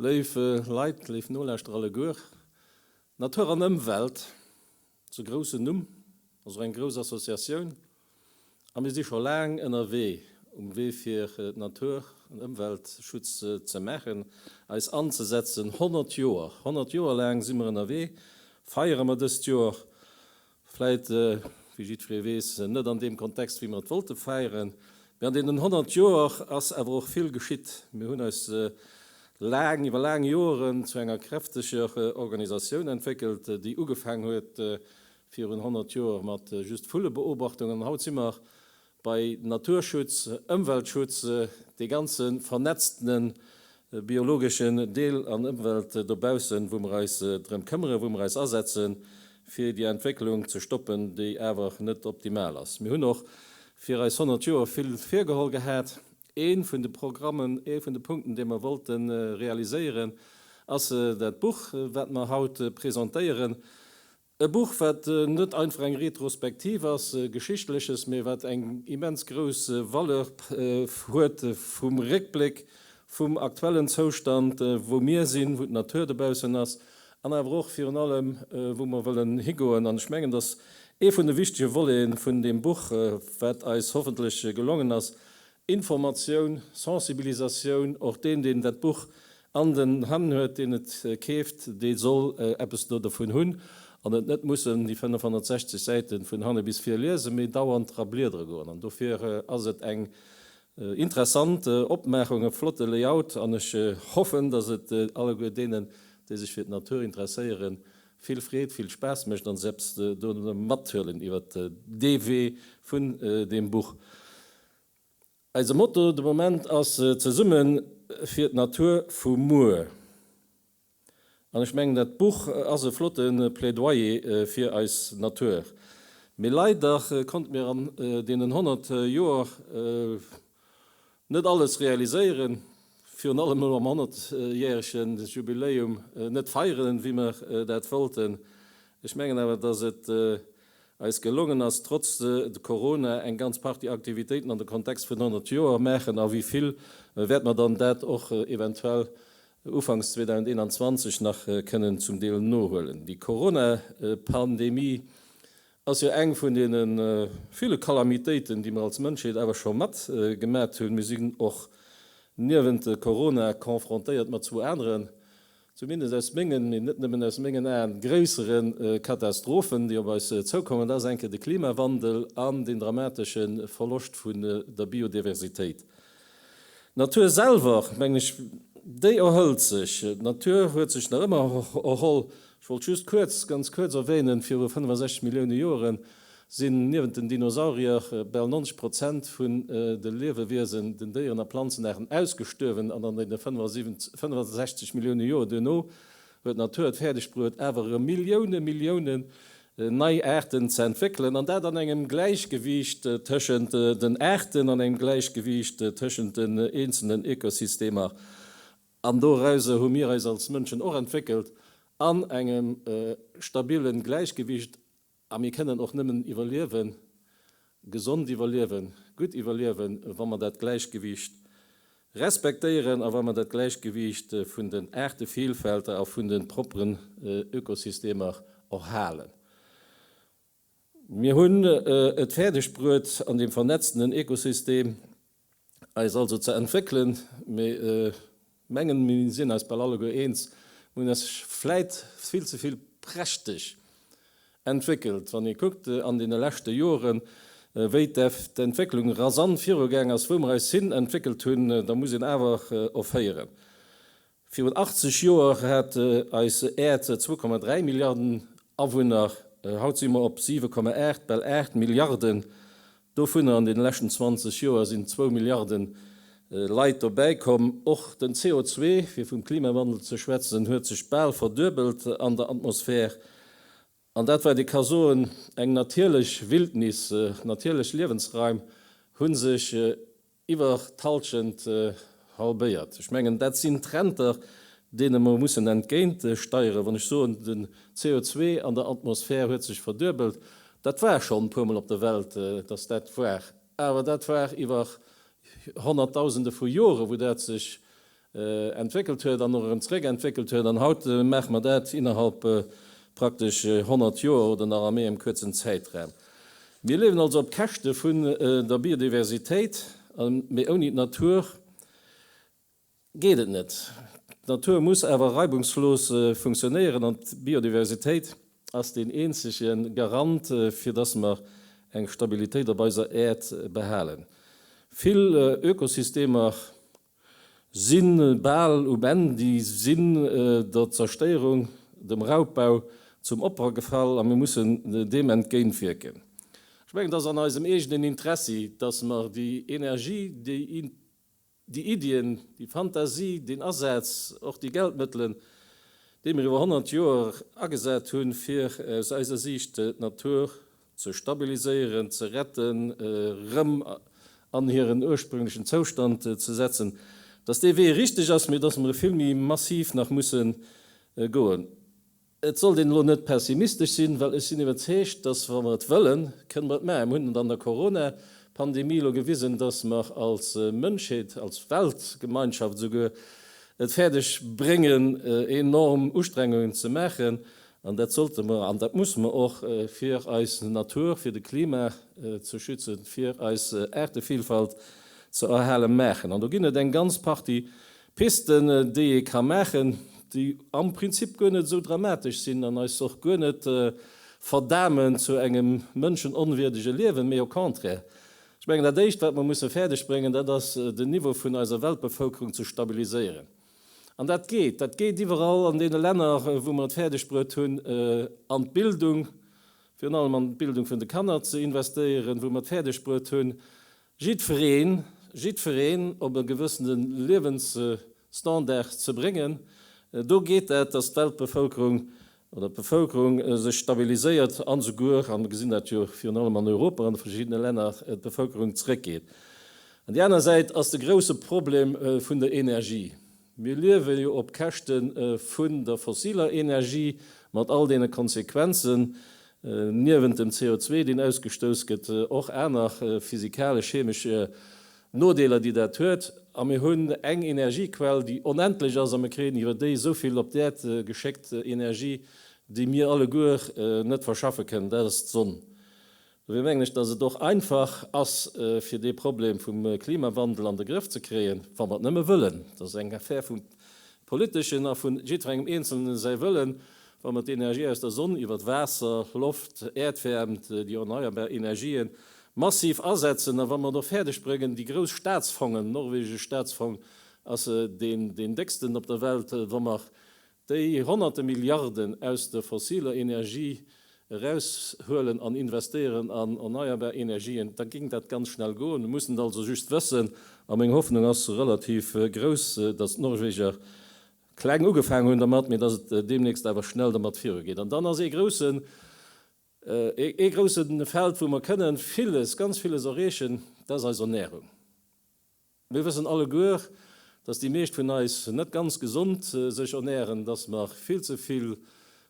Léif Leit, léif Nolauschterer alleguer, Natur an Ëmwelt, Zu groussen Numm, ass och eng grouss Associatioun a mir si scho laang ënnerwee um Wee fir Natur an Ëmweltschutz ze maachen, eis anzesetzen. 100 Joer, 100 Joer laang si mer ënnerwee, feiere mer dëst Joer vläit, wéi jiddweree weess, net an deem Kontext wéi mer et wollte feieren, mee an deenen 100 Joer ass awer och vill geschitt. Mir hunn eis laang, iwwer laang Joeren zu enger kräfteger Organisatioun entwéckelt, déi ugefaang huet virun 100 Joer mat just Vullebeobachtungen an haut si mer bei Naturschutz, Ëmweltschutz, dee ganze vernetztene biologeschen Deel an Ëmwelt dobaussen, wou mer eis drëm këmmere, wou mer eis asetze fir déi Entwécklung ze stoppen, déi awer net optimal ass. Mir hunn och fir eis 100 Joer vill virgeholl gehat Ee vun de Programmen, ee vun de Punkten, dee mer wollte realiséieren, ass dat Buch, wat mer haut presentéieren. E Buch, wat net einfach eng Retrospektiv ass, Geschichtleches, mee wat eng immens grouss Valeur huet vum Réckbléck, vum aktuellen Zoustand, wou mir sinn, wou d'Natur dobaussen ass an awer och virun allem, wou mer wëllen higoen. An ech mengen, dass ee vun de wichtege Voleten vun deem Buch, wat eis hoffentlech gelongen ass, Informatioun, Sensibilisatioun, och deen, deen dat Buch an den Hänn huet, deen et keeft, dee soll eppes do dovun hunn an et net mussen déi 560 Säite vun hanne bis vir liesen, mee dauernd dra bliedere goen. An dofir ass et eng interessant Opmaachung, e flotte Layout an ech hoffen, datt et alleguer deenen, déi sech fir d'Natur interesséieren, vill Freed, vill Spaass mécht an eppes dovun mathuelen iwwer dee Wee vun deem Buch. Eise Motto de Moment ass Zesumme fir d'Natur vu muer an ech mengen dat Buch ass e flotte Plädoyer fir eis Natur. Mee leider konnte mir an deenen 100 Joer Net alles realiséieren, virun allem elo am Honnertjährege Jubiläum net feieren, wéi mer dat wollten. Ech mengen awer, dass et eis gelongen ass, trotz Corona eng ganz Partie Aktivitéiten an de Kontext vun 100 Joer maachen. A wéi vill wäerte mer dann dat och eventuell ufanks 2021 nach kënnen zum Deel nohuelen? Déi Coronapandemie ass jo eng vun deene ville Kalamitéiten, déi mer als Mënschheet awer scho mat gemat hunn. Mir sinn och niewent Corona confrontéiert mat zwou aneren, zumindest aus mengen, mee net nëmmen aus mengen Aen, gréissere Katastrophen, déi op eis zoukommen. Dat ass eng Kéier de Klimawandel an deen dramatesche Verloscht vun der Biodiversitéit. D'Natur selwer, mengen ech, déi erhëlt sech. D'Natur huet sech nach ëmmer erholl. Ech wollt just kuerz, ganz kuerz erwänen, viru 65 Millioune Joere sinn niewent den Dinosaurier bal 90 Prozent vun de Liewewiesen, den Déieren a Planzenaarten, ausgestuerwen an an deene 65 Millioune Joer duerno Well d'Natur et fäerdeg bruet, awer erëm Millioune Milliounen nei Aarten ze entwéckelen, an dat an engem Gläichgewiicht tëschent den Aarten, an engem Gläichgewiicht tëschent den eenzelnen Ökosystemer, an dorauser hu mir eis als Mënschen och entwéckelt, an engem stabile Gläichgewiicht. A mir kënnen och nëmmen iwwerliewen, gesond iwwerliewen, gutt iwwerliewen, wa mer dat Gläichgewiicht respektéieren a wa mer dat Gläichgewiicht vun den Aartevielfälter a vun de propperen Ökosystemer och halen. Mir hunn et fäerdegbruet an deem vernetztenen Ökosystem, eis also ze entwéckelen, mee mengen mir sinn eis bal alleguer eens, mir hunn eis vläit vill ze vill prächteg entwéckelt, wann ee kuckt an deene leschte Joren, wéi d'Entwécklung rasant virugaang ass, wou mir eis hin entwéckelt hunn, da muss een awer offéieren, Virun 80 Joer hat eis Äerd 2,3 Milliarden Awunner, haut si mer op 7,8, bal 8 Milliarden. Dovunner an deene leschten 20 Joer sinn zwou Milliarde Leit dobäi komm. Och den CO2, fir vum Klimawandel ze schwätzen, huet sech bal verduebelt an der Atmosphär. An dat wat ee ka soen, eng natierlech Wildnis, natierlech Liewensraim hu sech iwwer d'Hallschent halbéiert. Ech mengen, dat sinn Trender, deene mer mussen entgéint steieren. Wann ech soen, den CO2 an der Atmosphär huet sech verduebelt, dat war schonn e puermol op der Welt, datt dat war, awer dat war iwwer Honnertdausende vu Jore wou dat sech entwéckelt huet an och erëm zeréck entwéckelt huet an haut maache mer dat innerhalb praktesch 100 Joer oder nach a méi engem kuerzen Zäitraum. Mir liewen also op Käschte vun der Biodiversitéit, mee ouni d'Natur geet et net. D'Natur muss awer reibungslos funktionéieren an d'Biodiversitéit ass deen eenzege Garant, fir dass mer eng Stabilitéit op eiser Äerd behalen. Vill Ökosystemer Sinn bal um Enn. Déi sinn der Zerstéierung, dem Raubbau zum Opfer gefall a mir mussen deem entgéint wierken. Ech mengen, et ass an eisem eegenen Interessi, datt mer déi Energie, déi Iddien, déi Fantasie, deen Asaz, och déi Geldmëttelen, déi mir iwwer 100 Joer agesat hunn, fir aus eiser Siicht d'Natur ze stabiliséieren, ze retten, erëm an hiren ursprünglechen Zoustand ze setzen, dass dee Wee richteg ass, mee dass mer e vill méi massiv nach musse goen. Et sollt een elo net pessimistesch sinn, well ech sinn iwwerzeegt, dass, wa mer et wëllen, kënne mer et maachen. Mer hunn et an der Corona-Pandemie elo gewisen, dass mer als Mënschheet, als Weltgemeinschaft esouguer et fäerdeg bréngen, enorm Ustrengungen ze maachen, An dat sollte mer an dat musse mer och, fir eis Natur, fir de Klima ze schützen, fir eis Aartevillfalt ze erhalen, maachen. An do ginn et eng ganz Partie Pisten, déi ee ka maachen, déi am Prinzip guer net esou dramatesch sinn an eis och guer net verdamen zu engem mënschenonwierdege Liewen, mee au contraire. Ech mengen, dat Éischt, wat mer musse fäerdegbréngen, dat ass, den Niveau vun eiser Weltbevëlkerung ze stabiliséieren. An dat geet. Dat geet iwwerall an deene Länner, wou mer et fäerdegbruet hunn, an d'Bildung, virun allem an d'Bildung vun de Kanner ze investéieren, wou mer et fäerdegbruet hunn, jiddwereen, jiddwereen op e gewëssene Liewensstandard ze bréngen. Do geet dat, dass d'Weltbevëlkerung oder d'Bevëlkerung sech stabiliséiert an esouguer, a mir gesinn dat jo virun allem an Europa an de verschiddene Länner, d'Bevëlkerung zeréckgeet. An déi aner Säit ass de grouse Problem vun der Energie. Mir liewe jo op Käschte vun der fossiler Energie mat all deene Konsequenzen, niewent dem CO2, deen ausgestouss gëtt, och aner physikalesch-chemesch Nodeeler déi dat huet, a mir hunn eng Energiequell déi onendlech ass a mir kréien iwwer déi esou vill op d'Äerd geschéckt, Energie déi mir alleguer net verschaffe kënnen, dat ass d'Sonn. Dofir mengen ech, datt et och einfach ass fir dee Problem vum Klimawandel an de Grëff ze kréien, wa mer et nëmme wëllen. Dat ass eng Affär vum Politeschen a vu jiddwerengem Eenzelne säi Wëllen, wa mer d'Energie aus der Sonn iwwert Waasser, Loft, Äerdwäermt, déi erneierbar Energien Massiv asetzen, a wa mer et och fäerdeg bréngen, déi grouss Staatsfongen, norwegesch Staatsfong ass deen décksten op der Welt, wa mer déi Honnerte Milliarden aus der fossiler Energie eraushuelen an investéieren an erneierbar Energien, da géing dat ganz schnell goen. Mir mussen et also just wëssen. A meng Hoffnung ass relativ grouss, datt d'Norweger kleng ugefaangen hunn dermat, mee datt et deemnächst awer schnell dermat virugeet. An dann ass ee groussen Ee grousse Feld, wou mer kënne villes, ganz villes erreechen, dat ass eis Ernährung. Mir wëssen alleguer, dass déi meescht vun eis net ganz gesond sech ernähren, dass mer vill ze vill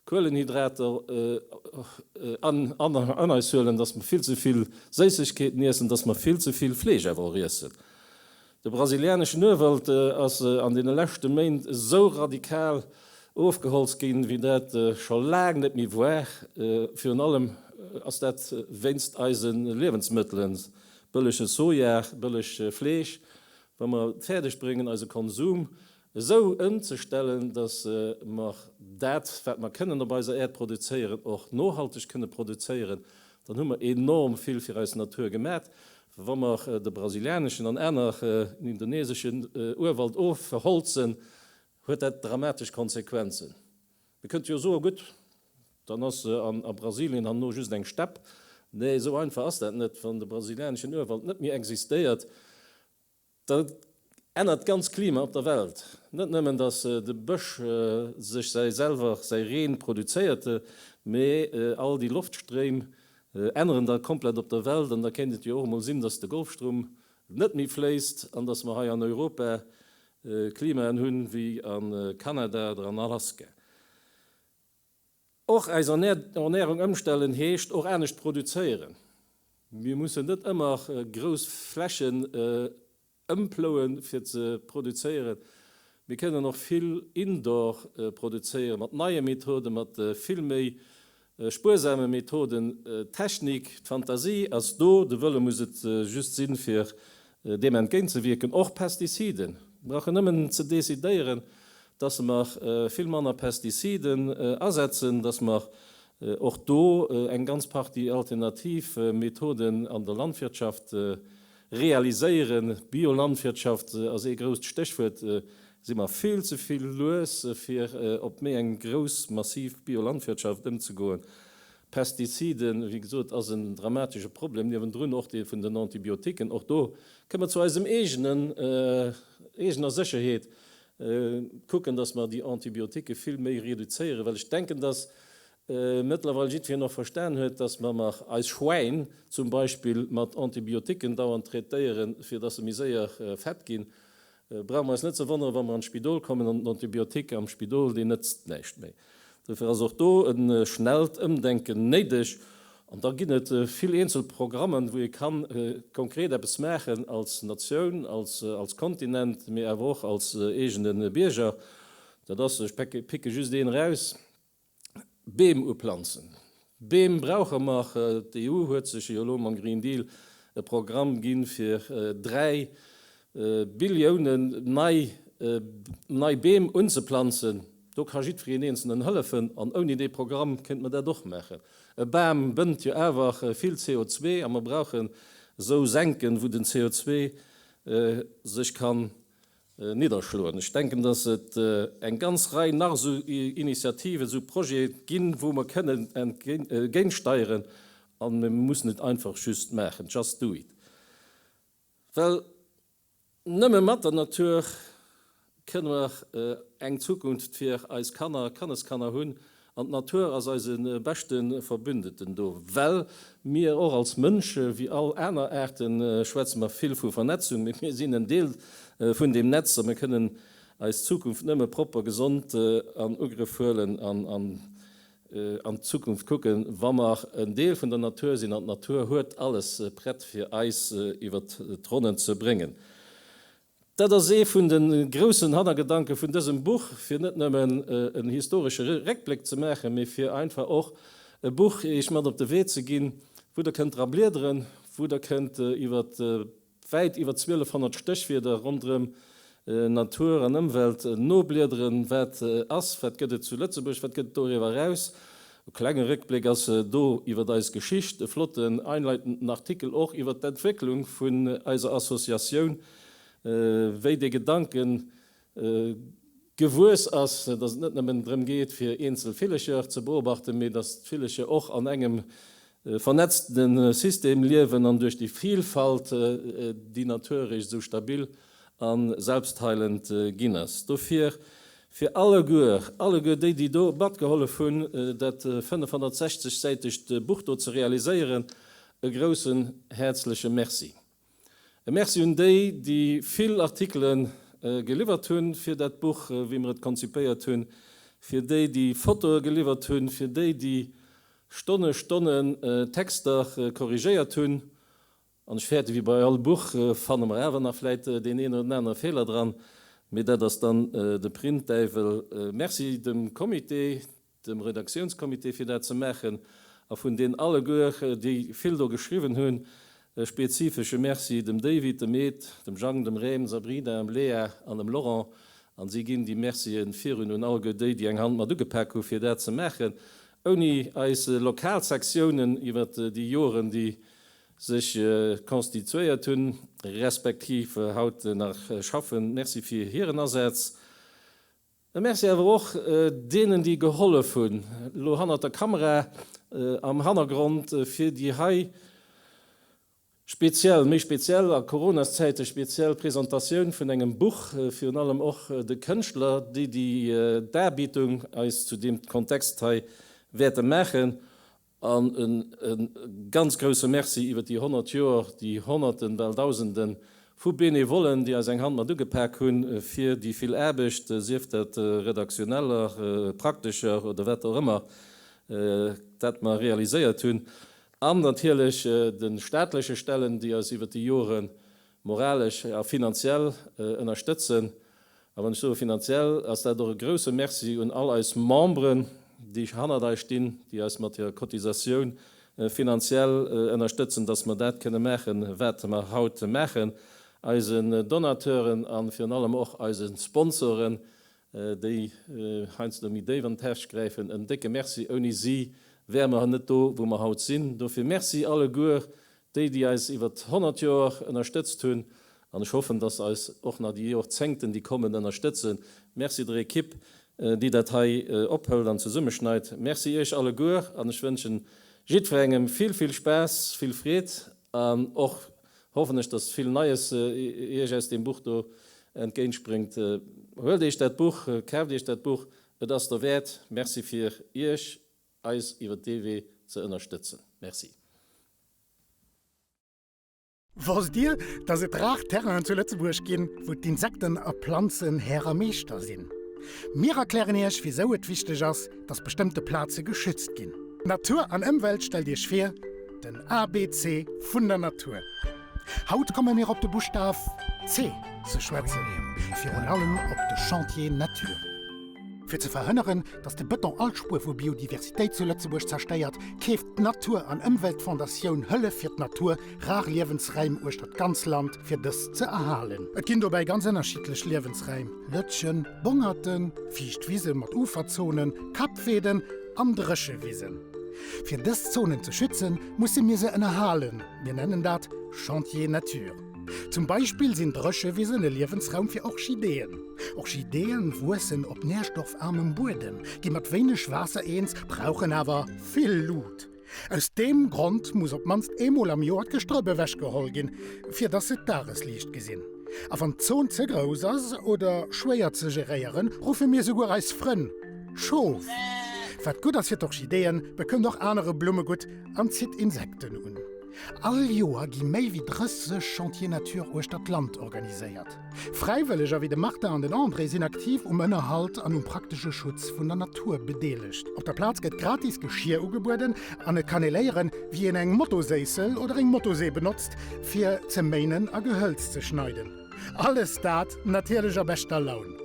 Kuelenhydrater an eis huelen, dass mer vill ze vill Séissegkeeten iessen, dass mer vill ze vill Fleesch awer och iessen. De brasilianeschen Urwald ass an deene leschte Méint esou radikal ofgeholzt ginn, wéi dat scho laang net méi war. Virun allem ass dat wéinst eise Liewensmëttelen, bëllege Soja, bëllegt Fleesch. Wa mer et fäerdeg bréngen, eise Konsum esou ëmzestellen, dass mer dat, wat mer kënnen op eiser Äerd produzéieren, och nohalteg kënne produzéieren, dann hu mer enorm vill fir eis Natur gemat. Wa mer de brasilianeschen an aner indoneseschen Urwald ofholzen, huet dat dramatesch Konsequenzen. Mir kënnte jo soen, gutt, dann ass a Brasilien herno just eng Stepp. Nee, esou einfach ass dat net. Wann de brasilianeschen Urwald net méi existéiert, Dat ännert d'ganz Klima op der Welt. Net nëmmen datt de Bësch sech säi selwer säi Reen produzéierte, mee all déi Loftstréim änneren da komplett op der Welt. An da kéint et jo och emol sinn, datt de Golfstroum net méi fléisst an datt mer hei an Europa Klimaen hunn wéi a Kanada oder an Alaska. Och eis Ernärung ëmstellen heescht och anescht produzéieren. Mir mussen net ëmmer grouss Flächen ëmplouen, fir ze produzéieren. Mir kënnen och vill indoor produzéieren, mat neie Methoden, mat vill méi spuersame Methoden. D'Technik, d'Fantasie ass do, de Wëlle muss et just sinn, fir Deem entgéintzewierken, och Pestiziden, brauchen nëmmen ze decidéieren, dass mer vill manner Pestiziden asetzen, dass mer och do eng ganz Partie alternativ Methoden an der Landwirtschaft realiséieren. Biolandwirtschaft ass ee grousst Stéchwuert. Si mer vill ze vill lues, fir op méi eng grouss, massiv Biolandwirtschaft ëmzegoen. Pestiziden, wéi gesot, ass en dramatesche Problem, niewendrun och dee vun den Antibiotiquen. Och do kënne mer zu eisem eegenen, eegener Sécherheet kucken, dass mer déi Antibiotiquen vill méi reduzéieren, well ech denken, dass mëttlerweil jiddwereen och verstan huet, dass mer nach eis Schwäin zum Beispill mat Antibiotiquen dauernd traitéieren, fir dass se méi séier fett ginn. Et brauch mer eis net ze wonneren, wa mer an d'Spidol kommen an den Antibiotique am Spidol, deen nëtzt näischt méi. Dofir ass och do e schnellt Ëmdenken néideg. An da ginn et vill eenzel Programmen, wou ee kann konkret eppes maachen als Natioun, als Kontinent, mee awer och als eegene Bierger. Dat ass, ech picke just een eraus, Beem uplanzen. Beem brauche mer. D'EU huet sech jo elo mam Green Deal e Programm ginn, fir 3 Billioune nei Beem unzeplanzen. Do ka jiddwereen Eenzelen hëllefen. An ouni dee Programm kéinte mer dat och maachen. E Bam bënnt jo awer vill CO2 a mer brauchen esou Senken, wou den CO2 sech kann nidderschloen. Ech denken, dass et eng ganz Rei nach esou Initiativen, esou Projete ginn, wou mer kënnen entgéintsteieren, a mir müssen et einfach just maachen, just do it. Well nëmme mat der Natur kënne mer eng Zukunft fir eis Kanner a Kanneskanner hunn, An d'Natur ass eise beschte Verbündeten do, well mir och als Mënsche wéi all aner Aarte schwätze mer vill vu Vernetzung, mee mir sinn en Deel vun deem Netz a mir kënnen eis Zukunft nëmme propper, gesond an Ugrëff huelen an an d'Zukunft kucken, wa mer en Deel vun der Natur sinn. An d'Natur huet alles prett, fir eis iwwert d'Ronnen ze bréngen. Dat ass ee vun de groussen Hannergedanke vun dësem Buch, fir net nëmmen en historesche Réckbléck ze maachen, mee fir einfach och e Buch iech mat op de Wee ze ginn, wou der kënnt dra bliederen, wou der kënnt iwwer wäit iwwer 1200 Stéchwierder ronderëm Natur an Ëmwelt nobliederen, wat ass, wat gëtt et zu Lëtzebuerg, wat gëtt et doriwwer eraus, E klenge Réckbléck ass do iwwer eis Geschicht, e flotten einleitenden Artikel och iwwer d'Entwécklung vun eiser Associatioun, wéi dee Gedanke gewuess ass, dass et net nëmmen drëm geet fir eenzel Villecher ze beobachten, mee dass d'Villecher och an engem E vernetzte System liewen an duerch déi Vilfalt déi natiererech esou stabil a selbstheilend ginn ass. Dofir fir alleguer, alleguer déi déi do matgehollef hunn dat 560 säitegt Buch do ze realiséieren, e groussen häerzleche Merci. E Merci un déi, déi vill Artikele geliwwert hunn fir dat Buch, wéi mer et konzipéiert hunn, fir déi, déi Fotoe geliwwert hunn, fir déi, déi Stonne Stonne Texter korrigéiert hunn. An ech fäerte, wéi bei all Buch fanne mer awer nach vläit deen een oder den anere Feeler dran, mee dat ass dann de Printdäiwel. Merci dem Comité. dem Redaktiounscomité fir dat ze maachen a vun deen alleguer déi vill do geschriwwen hunn e spezifesche Merci, dem David, dem Ed, dem Jang, dem Rem, Sabrina, em Léa an em Laurent an si ginn déi Mercien virun un alleguer déi déi eng Hand mat ugepak hu fir dat ze maachen. Ouni eis lokal Sektiounen iwwert déi Joeren déi sech constituéiert hunn, respektiv haut nach schaffen, Merci fir hiren Asaz. E Merci awer och deenen, déi gehollef hunn, elo hannert der Kamera, am Hannergrond, fir déi hei speziell, méi speziell a Coronaszäite speziell Presentatioun vun engem Buch, virun allem och de Kënschtler, déi déi Darbietung eis zu deem Kontext hei wäerte maachen. An e ganz grousse Merci iwwert déi 100 Joer, déi Honnerten, bal Dausenden vu Benevollen, déi eis eng Hand mat ugepak hunn, fir déi vill Aarbecht, sief dat redaktioneller, praktescher oder wat och ëmmer, dat mer realiséiert hunn. An natierlech de staatleche Stellen, déi eis iwwert déi Joren Moralesch a finanziell ënnerstëtzen. A wann ech soe finanziell, ass dat och e grouse Merci un all eis Memberen, déi hannert eis stinn, déi eis mat hirer Cotisatioun finanziell ënnerstëtzen, dass mer dat kënne maachen, wat mer haut maachen. Eisen Donateuren a virun allem och eise Sponsoren, déi heiansdo méi déif an d'Täsch gräifen, en décke Merci, ouni si wäre mer net do wou mer haut sinn. Dofir Merci alleguer déi, déi eis iwwert 100 Joer ënnerstëtzt hunn an ech hoffen, dass eis och nach déi Jorzéngten déi kommen ënnerstëtzen. Merci der Ekipp déi dat hei ophëlt an zesummeschneit. Merci iech alleguer an ech wënschen jiddwerengem vill vill Spaass, vill Freed an och Hoffen ech dass vill Neies iech aus deem Buch do entgéintspréngt. Huelt iech dat Buch, kaaft iech dat Buch, et ass der wäert. Merci fir iech eis iwwert dee Wee ze ënnerstëtzen. Merci. Wosst Dir, dass et rar Terrainen zu Lëtzebuerg ginn, wou d'Insekten a Planzen Här a Meeschter sinn? Mir erklären Iech, wisou et wichteg ass, dass bestëmmte Plaze geschützt ginn. Natur an Ëmwelt Stellt Iech vir, den ABC vun der Natur. Haut komme mir op de Buschtaf C ze schwätzen, virun allem op de Chantier Natur. Fir ze verhënneren, dass de Bëton all Spuer vu Biodiversitéit zu Lëtzebuerg zerstéiert, keeft d'Natur an Ëmweltfondatioun Hëllef fir d'Natur, Rar Liewensräim uechter d'ganz Land fir dës ze erhalen. Et ginn dobäi ganz ënnerschiddlech Liewensräim, Lëtschen, Bongerten, fiicht Wisen mat Uferzonen, Kappweeden an Dréchewisen. Fir dës Zonen ze schützen, musse mir se ënnerhalen, mir nennen dat Chantier nature. Zum Beispill sinn Dréchewisen e Liewensraum fir Orchideeën. Orchideeë wuessen op nährstoffarmem Buedem, gi mat wéineg Waasser eens, brauchen awer vill Lut. Aus deem Grond muss op d'mannst eemol am Joer d'Gestrëpp ewechgeholl ginn, fir dass se d'Dagesliicht gesinn. A wann d'Zon ze grouss ass oder schwéier ze geréieren, ruffe mir souguer eis Frënn Schof. Wat gutt ass fir d'Orchideeën, bekënnt och anere Blumme gutt an zitt Insekten un. All Joer gi méi wéi 30 Chantiers Nature uechter d'Land organiséiert. Fräiwëlleger wéi de Martin an den André sinn aktiv um Ënnerhalt an um praktesche Schutz vun der Natur bedeelegt. Op der Plaz gëtt gratis Geschier ugebueden an et kann ee léieren, wéi een eng Motoséissel oder eng Motosee benotzt, fir ze méinen a Gehëlz ze schneiden. Alles dat natierlech a beschter Laun.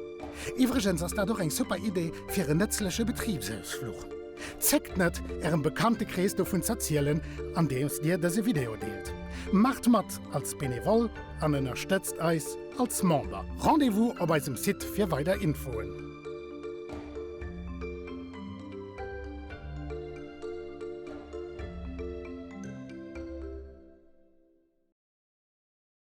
Iwwregens ass dat och eng super Idee fir en nëtzleche Betribsausfluch. Zéckt net, Ärem Bekanntekrees dovun z'erzielen, andeems Dir dëse Video deelt. Maacht mat als Benevol an ënnerstëtzt eis als Member. Rendez-vous op eisem Site fir weider Infoen.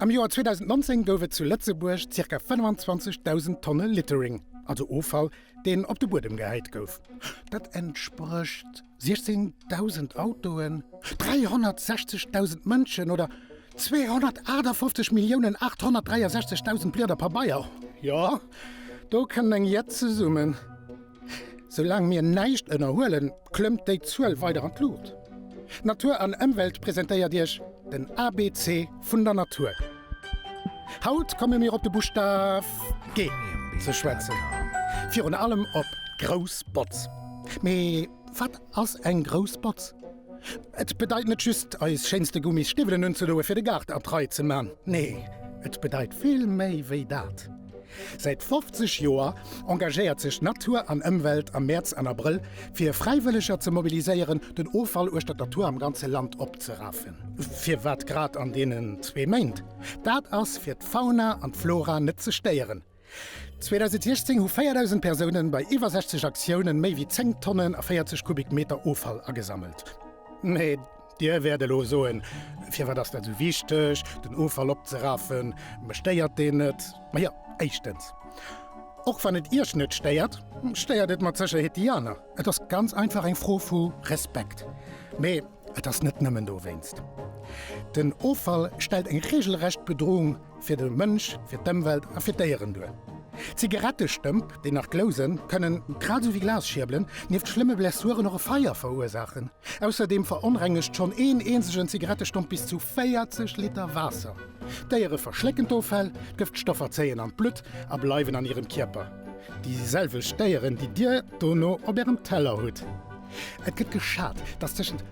Am Joer 2019 gouf et zu Lëtzebuerg zirka 25.000 Tonne Littering, also Offall, deen op de Buedem gehäit gouf. Dat entsprécht. 16.000 Autoen, 360.000 Mënschen oder 258.863.000 Blieder Pabeier? Jo, do kënnt eng Jett zesummen. Soulaang mir näischt ënnerhuelen, klëmmt déi Zuel weider an d'Luucht. Natur an Ëmwelt presentéiert Iech den ABC vun der Natur. Haut komme mir op de Buschtaf G ze schwätzen, virun allem op grouss Botz. Mee wat ass eng grouss Botz? Et bedeit net just, eis schéinste Gummis Stiwwelen unzedoe fir de Gaart a d'Rei ze man. Nee, et bedeit vill méi wéi dat. Säit 50 Joer engagéiert sech Natur an Ëmwelt am Mäerz an Abrëll fir Fräiwëlleger ze mobiliséieren, den Offall uechtert der Tour am ganze Land opzerafen. Firwat grad an deenen zwee Méint? Dat ass fir d'Fauna an d'Flora net ze stéieren. 2016 hu 4.000 Persounen bei iwwer 60 Aktiounen méi wéi 10 Tonnen a 40 Kubikmeter Offall agesammelt. Dir wäert elo soen, Firwat ass dat esou wichteg, den Offall opzeraffen? Mech stéiert deen net. Majo, éischtens, och wann et Iech net stéiert, stéiert et mat Sécherheet déi aner. Et ass ganz einfach eng Fro vu Respekt. Mee et ass net nëmmen dowéinst. Den Offall stellt eng reegelrecht Bedroung Fir de Mënsch, fir d'Ëmwelt a fir d'Déieren duer. Zigarettestëmp, déi nach glousen, kënnen, grad esou wéi Glasschierbelen, nieft schlëmme Blessuren och e Feier verursaachen. Ausserdeem veronrengegt schonn een eenzegen Zigarettestomp bis zu 40 Liter Waasser. D'Déiere verschlécken d'Offäll, d'Gëftstoffer zéien an d'Blutt a bleiwen an hirem Kierper, déi selwecht Déieren, déi Dir dono op Ärem Teller hutt. Et gëtt geschat, datt tëschent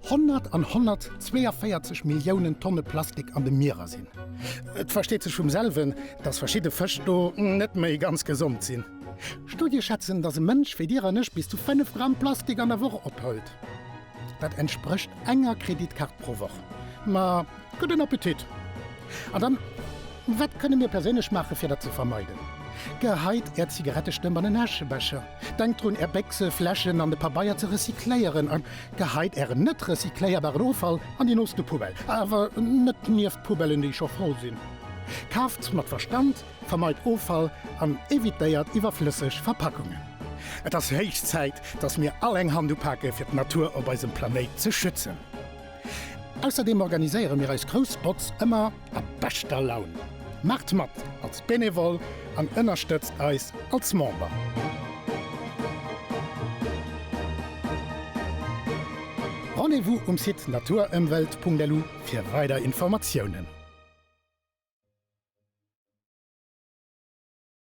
100 an 142 Milliounen Tonne Plastik an de Mierer sinn. Et versteet sech vum selwen, datt verschidde Fësch do net méi ganz gesond sinn. Studie schätzen, datt e Mënsch wéi Dir an ech bis zu 5 Gramm Plastik an der Woch ophëlt. Dat entsprécht enger Kreditkaart pro Woch. Ma Gudden Appetit! An dann, wat kënne mir perséinlech maachen, fir dat ze vermeiden? Geheit Är Zigarettestëmp an en Äschebecher. Denkt drun, Är Béchse, Fläschen an de Pabeier ze recycléieren. A geheit Ären net recycléierbaren Offall an déi nooste Poubelle, awer net nieft d'Poubellen, déi scho voll sinn. Kaaft mat Verstand, vermeit Offall an evitéiert iwwerflësseg Verpackungen. Et ass héich Zäit, dass mir all eng Hand upake fir d'Natur op eisem Planéit ze schützen. Ausserdeem organiséiere mir eis grouss Botz ëmmer a beschter Laun. Maacht mat als Benevole an ënnerstëtzt eis als Member! Rendez-vous um Site naturëmwelt.lu fir weider Informatiounen.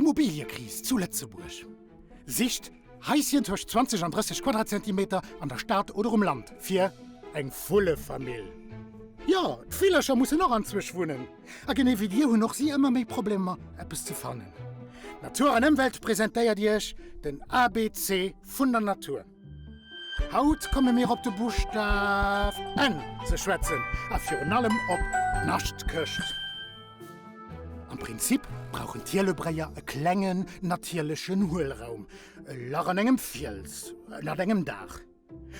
Immobiliëkris zu Lëtzebuerg, Sicht Haischen tëscht 20 an 30 Quadratzentimeter an der Stad oder um Land fir eng Vullefamill. Jo, d'Villercher mussen och anzwousch wunnen. A genee wéi dir hunn och si ëmmer méi Problemer, eppes ze fannen. Natur an Ëmwelt presentéiert iech den ABC vun der Natur. Haut komme mir op de Buschtaf N ze schwätzen a virun allem op d'Naschtkecht. Am Prinzip brauchen d'Hielebréier e klengen natierlechen Huelraum, e Lach an engem Fiels ënnert engem Daach.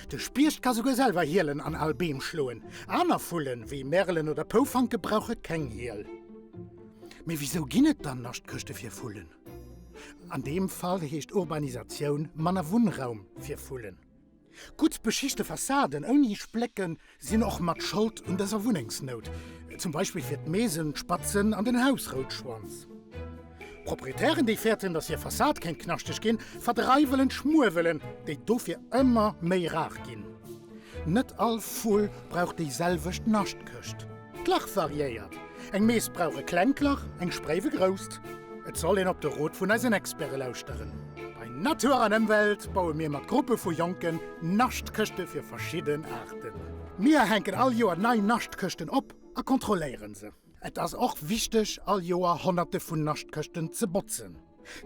De Spiecht ka souguer selwer Hielen an al Beem schloen. Aner Vullen, wéi Merelen oder Poufanke brauche keng Hiel. Mee wisou ginn et dann Naschtkechte fir Vullen? An deem Fall heescht Urbanisatioun manner Wunnraum fir Vullen. Gutt beschichte Fassaden ouni Splécken sinn och mat Schold un dëser Wunnengsnout, zum Beispill fir d'Meesenspatzen an den Hausroutschwanz. Proprietären, déi fäerten, datt hir Fassad kéint knaschteg ginn, verdreiwelen d'Schmuewelen, déi dofir ëmmer méi rar ginn. Net all Vull brauch déi selwecht Naschtkëscht. D'Lach variéiert, eng Mees brauch e klengt Lach, eng Spréif e grousst. Et soll een op de Rot vun eisen Experte lauschteren. Bei Natur an Ëmwelt baue mir mat Gruppe vu Jonken Naschtkëschte fir verschidden Aarten. Mir hänken all Joer nei Naschtkëschten op a kontrolléieren se. Et ass och wichteg all Joer honnerte vun Naschtkëschten ze botzen.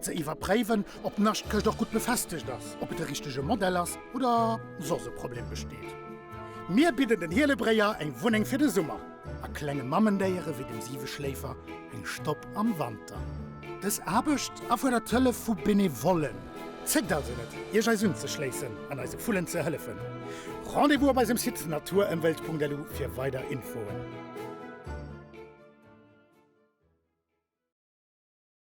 Ze iwwerpréiwen, ob d'Naschtkëscht och gutt befestegt ass, ob et de richtege Modell ass oder soss e Problem besteet. Mir bidden den Hielebréier eng Wunneng fir de Summer a klenge Mammendéiere wéi dem Siweschléifer eng Stopp am Wanter. Dës Aarbecht erfuerdert d'Hëllef vu Benevollen. Zéckt also net, Iech eis unzeschléissen an eise Vullen ze hëllefen. Rendez-vous op eisem Site naturëmwelt.lu fir weider Infoen.